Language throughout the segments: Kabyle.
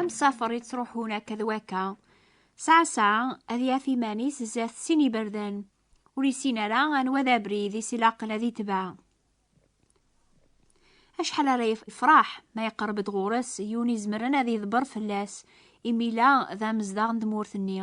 Amsafer yettruḥun akka d wakka. Saɛ saɛ ad yaf iman-is zdat sin iberdan. Ur yessin ara anwa d abrid i s-ilaqen ad itbeɛ. Acḥal ara yefraḥ ma yeqreb-d ɣur-s yiwen izemren ad yeḍber fell-as, imi la d amezdaɣ n tmurt-nni.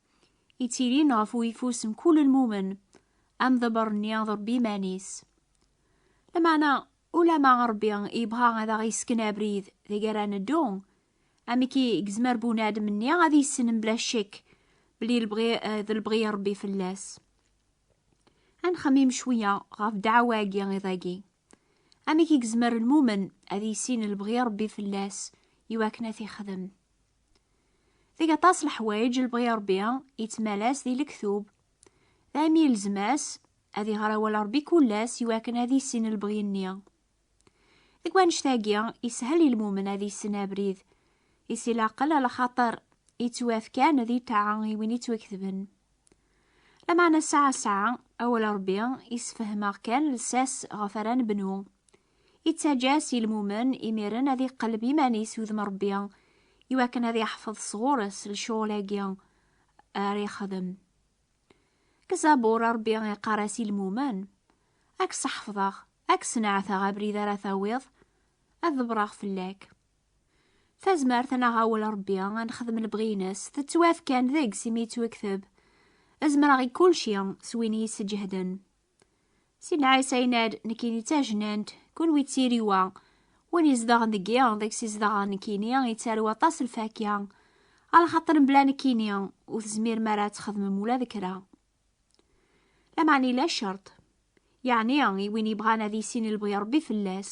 ittilin ɣef uyeffus n kul lmumen, amḍebber-nni d Rebbi iman-is. Lameɛna, ulama Rebbi yebɣa ad aɣ-yesken abrid deg ara neddu, amek i yezmer bunadem-nni ad yessen mebla ccek belli eh, d lebɣi n Rebbi fell-as? Ad nxemmim cwiya ɣef ddeɛwa-agi iḍ-agi. Amek i yezmer lmumen ad yissin lebɣi n Rebbi fell-as iwakken ad t-ixdem? Deg aṭas leḥwayeǧ lebɣi Ṛebbi yettmalas di lektub, daymi yelzem-as ad iɣer awal Ṛebbi kul ass iwakken ad issin lebɣi-nni. Deg wannect-agi, ishel i lmumen ad issen abrid i si laqel a lxaṭer yettwafkan di ṭṭaɛa i win yettwaketben. Lameɛna ssaɛa ssaɛa, awal Ṛebbi yessefhem-aɣ kan lsas ɣef ara nebnu. Ittaǧǧa-as i lmumen imiren ad iqelleb iman-is udem Ṛebbi i wakken ad iḥfeḍ sɣur-s lcuɣel-agi ara ixdem. Deg Zabur, Ṛebbi iqqar-as i lmumen, Ad k-seḥfḍeɣ, ad k-sneɛteɣ abrid ara tawiḍ, ad ḍebreɣ fell-ak. Tazmert n aɣawel Ṛebbi ad nexdem lebɣi-ines tettwaf kan deg-s imi yettwekteb, Zemreɣ i kulci s win i yi-isseǧehden. Sinɛa isaynad nekini d tajnant, kunwi d tiriwa. Win izedɣen deg i, deg-s izedɣen nekini, yettarew aṭas lfakya. Alxaṭer mebla nekini, ur tezmirem ara ad txedmem ula d kra. Lameɛna yella ccerṭ, yeɛni i win yebɣan ad yissin i lebɣi Ṛebbi fell-as.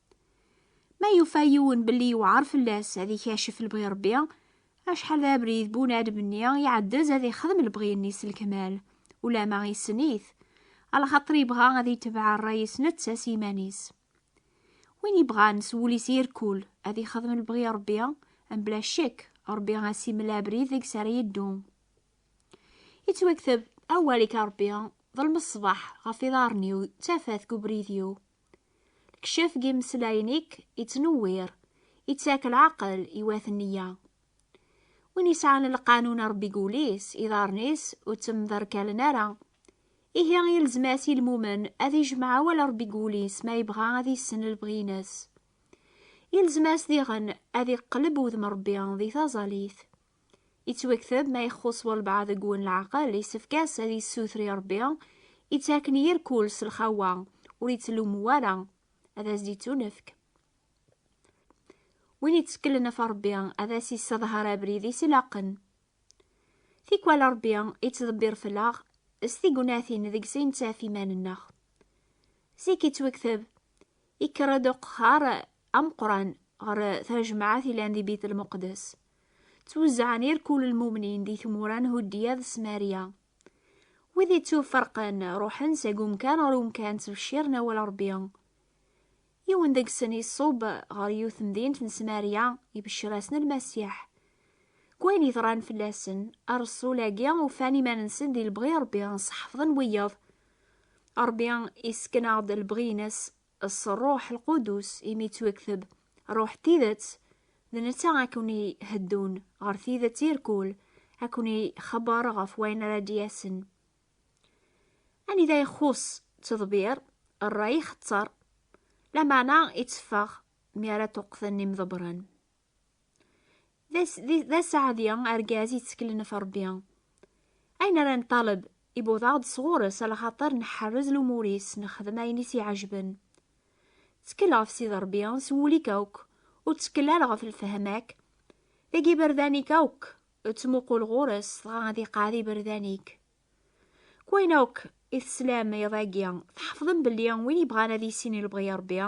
Ma yufa yiwen belli yewɛer fell-as ad ikacef lebɣi Rebbi, acḥal d abrid bunadem-nni iɛeddez ad ixdem lebɣi-nni s lekmal, ulama issen-it, alaxaṭer yebɣa ad itebɛ rray-is netta s yiman-is. Win yebɣan s wul-is irkul ad ixdem lebɣi Rebbi, mebla ccek Rebbi as imel abrid deg-s ara yeddu. Ittwakteb, Awal-ik a Rebbi, ḍelm ṣṣbeḥ ɣef iḍarren-iw, d tafat deg ubrid-iw. Kcef deg imeslayen-ik ittnewwir, ittak lɛaqel i wat nniya. Win yesɛan lqanun Ṛebbi deg wul-is, iḍarren-is ur ttemderkalen ara. Ihi yelzem-as i lmumen ad ijmeɛ awal Ṛebbi deg wul-is ma yebɣa ad yessen lebɣi-ines. Yelzem-as diɣen ad iqelleb wudem Ṛebbi di taẓallit. Ittwakteb ma ixxus walbeɛḍ deg wen leɛqel, yessefk-as ad yessuter i Rebbi, ittaken yir kul s lxawa, ur ittlummu ara, ad as-d-ittunefk. Win itteklen ɣef Rebbi, ad as-isseḍher abrid-is ilaqen. Tikwal Rebbi ittḍebbir fell-aɣ s tignatin deg-s i nettaf iman-nneɣ. Zik ittwakteb, ikker-d uqehhar ameqqran ɣer tajmaɛt yellan di Bitel Muqeddes. Ttwezzɛen irkul n lmumnin di tmura n Huddiya d Smarya. Wid ittuferqen, ruḥen seg umkan ɣer umkan ttbecciren awal Ṛebbi. Yiwen deg-sen iṣub ɣer yiwet temdint n Smarya, ibeccer-asen Lmasiḥ. Deg wayen yeḍran fell-asen, Ṛṛsul-agi ufan iman-nsen di lebɣi n Ṛebbi, sḥefḍen wiyeḍ. Ṛebbi yessken-aɣ-d lebɣi-ines, s Rruḥ Lqudus, imi yettwekteb, Rruḥ n tidet, d netta ad ken-iheddun ɣer tidet irkul, ad ken-ixebber ɣef wayen ara d-yasen. Anida ixuṣ ttḍebir, rray ixetter, lameɛna itteffeɣ mi ara ṭṭuqten imḍebbren. d asaɛdi argaz yetteklen ɣef Rebbi. Ayen ara neṭṭaleb ibuḍ-aɣ-d sɣur-s ala xaṭer nḥerrez lumur-is, nexdem ayen i s-iɛejben. Ttkel ɣef Sidi Rebbi s wul-ik akk, ur ttkel ara ɣef lefhama-k. Deg iberdan-ik akk, ttmuqul ɣur-s, dɣa ad iqeɛɛed iberdan-ik. K wayen akk i teslam iḍ agi, tḥefḍem belli win yebɣan ad yissin i lebɣi Rebbi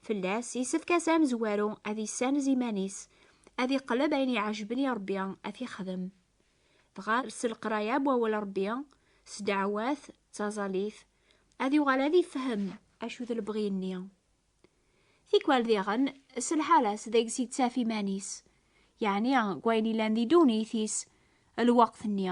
fell-as, yessefk-as amezwaru ad yessanez iman-is, ad iqleb ayen iɛejben i Rebbi ad t-ixdem. Dɣa s leqraya n wawal Rebbi, s ddeɛwat, d taẓalit, ad yuɣal ad ifhem acu d lebɣi-nni. Tikwal diɣen, s lḥala-s deg-s yettaf iman-is, yeɛni deg wayen yellan di ddunit-is lweqt-nni,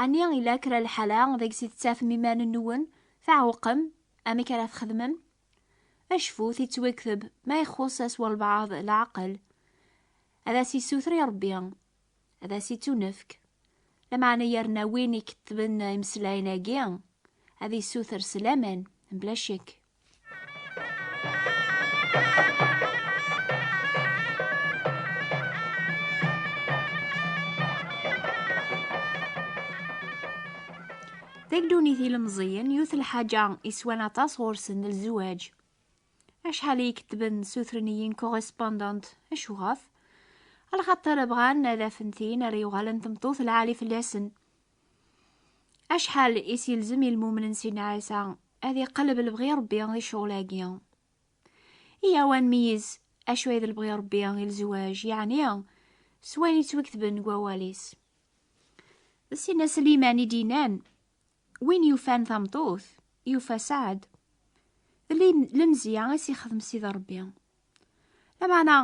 Ɛni yella kra lḥala deg-s i tettafem iman-nwen tɛewqem? Amek ara txedmem? Acfut yettwekteb ma ixuṣ-as walbaɛḍ leɛqel, ad as-yessuter i Rebbi, ad as-ittunefk. Lameɛna yerna win ikettben imeslayen-agi, ad yessuter s laman, mebla ccekk. Tagdunit ilemẓiyen yut lḥaǧa iswan aṭas ɣur-sen lzuwaj. Acḥal i iketben sutren-iyi-n correspondant acuɣaf? Alxaṭer bɣan ad afen tin ara yuɣalen tmeṭṭut lɛali fell-asen. Acḥal i s-yelzem i lmumen n Sidna Ɛisa ad iqelleb lebɣi Ṛebbi di ccɣel-agi? Iyyaw ad nmeyyez acu ay d lebɣi Ṛebbi i lezwaj, yeɛni s wayen yettwaketben deg wawal-is. D Sidna Sliman i d-yennan, Win yufan tameṭṭut, yufa saɛd. D lemzeyya i s-ixdem Sidi Ṛebbi. Lameɛna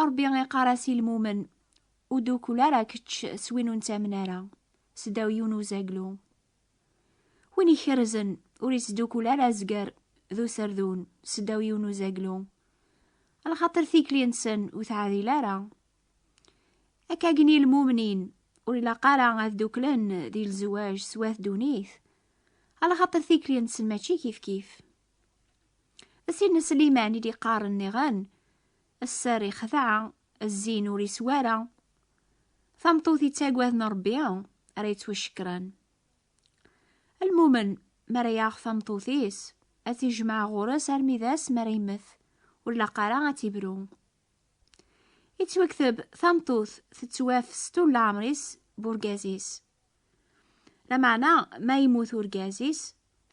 Ṛebbi iqqar-as i lmumen, Ur d-ukul ara kečč s win ur nettamen ara, seddaw yiwen uzaglu. Win ikerrzen ur yettdukul ara azger d userdun, seddaw yiwen uzaglu. Lxaṭer tikli-nsen ur teɛdil ara. Akka gen ilmumnin ur ilaq ara ad duklen di lzewaj s wat dunit, lxaṭer tikli-nsen mačči kifkif. D Sidna Sliman i d-iqqaren niɣen, Sser ixdeɛ, Zzin ur iswi ara. Tameṭṭut yettagaden Rebbi ara yettwacekkren. Lmumen mi ara yaɣ tameṭṭut-is ad t-ijmeɛ ɣur-s armi d ass mi ara yemmet, ur laq ara ad t-ibru. Yettwakteb tameṭṭut tettwaf s tul leɛmer-is b urgaz-is. Lameɛna ma yemmut urgaz-is,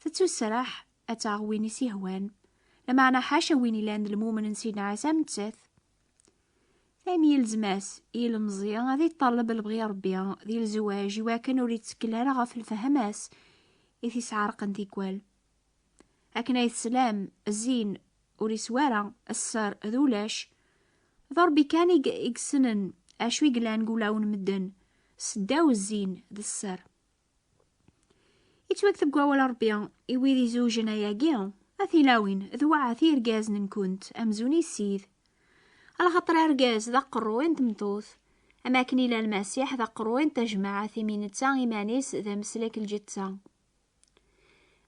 tettusraḥ ad taɣ win i s-yehwan, lameɛna ḥaca win ilan d lmumen n Sidna Ɛisa am nettat, am yelzem-as i yilemẓi ad yeṭṭaleb lebɣi Ṛebbi di lezwaǧ i wakken ur yettekkel ara ɣef lfehma-s i t-isɛerqen tikwal. Akken ay teslam, zzin ur yeswi ara, sser d ulac. D Ṛebbi kan i yessnen acu i yellan deg wulawen n medden, seddaw zzin d sser. Yettwakteb deg wawal Ṛebbi i wid izewjen ayagi, a tilawin, d waɛat i irgazen-nkent, amzun issid. Alaxaṭer argaz d aqerruy n tmeṭṭut, am akken ila Lmasiḥ d aqerruy n tajmaɛt imi netta iman-is d ameslek lǧetta.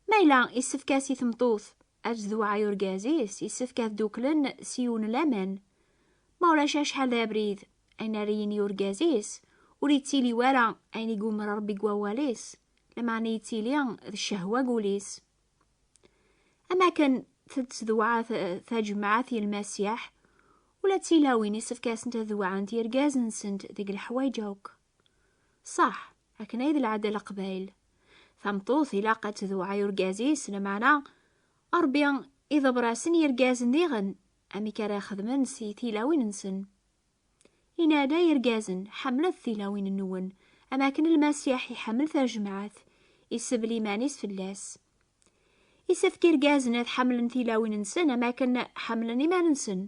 Ma yella yessefk-as i tmeṭṭut ad tdewɛa i urgaz-is, yessefk ad dduklen s yiwen n laman. Ma ulac acḥal d abrid ayen ara yini urgaz-is, ur yettili wara ayen i yumer Rebbi deg wawal-is, lameɛna yettili d ccehwa deg wul-is. Am akken tettdewɛa tajemɛat i Lmasiḥ, ula d tilawin isefk-asent ad dewɛent irgazen-nsent deg leḥwayeǧ akk. Ṣaḥ, akken ay d lɛada n Leqbayel, tameṭṭut ilaq ad tdewɛa i urgaz-is, lameɛna Rebbi iḍebber-asen i yirgazen diɣen Amek ara xedmen si tilawin-nsen? Yenna-d, Ay irgazen, ḥemmlet tilawin-nwen, am akken Lmasiḥ iḥemmel tajemɛet, isebl iman-is fell-as. Isefk irgazen ad ḥemmlen tilawin-nsen am akken ḥemmlen iman-nsen.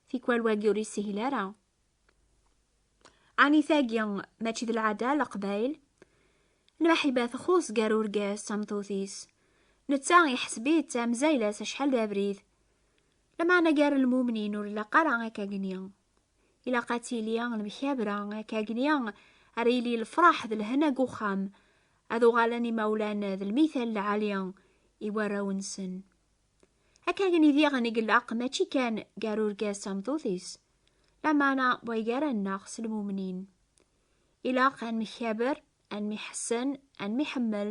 Tikwal wagi ur yeshil ara. Ani tagi mačči d lɛada leqbayl lmaḥiba txuṣ gar urgaz d tameṭṭut-is netta iḥseb-itt d tamzayla-s acḥal d abrid lameɛna gar lmumnin ur ilaq ara akkagni ilaq ad tili lemkabra akkagni ara yili lefraḥ d lhena deg uxxam ad uɣalen imawlan d lmital lɛali i warraw-nsen Akka gen i diɣen i yellaq mačči kan gar urgaz tameṭṭut-is, lameɛna way gar-aneɣ s lmumnin. Ilaq ad nmekkaber, ad nmiḥessen, ad nmiḥemmel,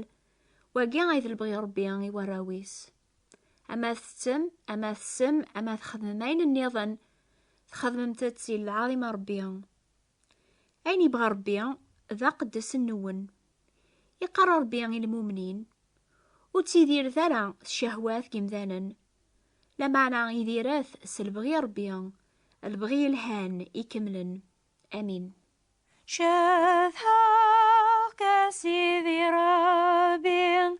wagi ay d lebɣi Ṛebbi i warraw-is. Ama tettettem, ama tessem, ama txedmem ayen nniḍen, txedmemt-t i lɛaḍima Ṛebbi. Ayen yebɣa Ṛebbi d aqeddes nwen. Iqqar Ṛebbi i lmumnin, Ur ttidiret ara tcehwat n yemdanen. Lameɛna idiret s lebɣi n Ṛebbi, lebɣi yelhan ikemlen. Amin. Cedhaɣ-k a Sidi Ṛebbi.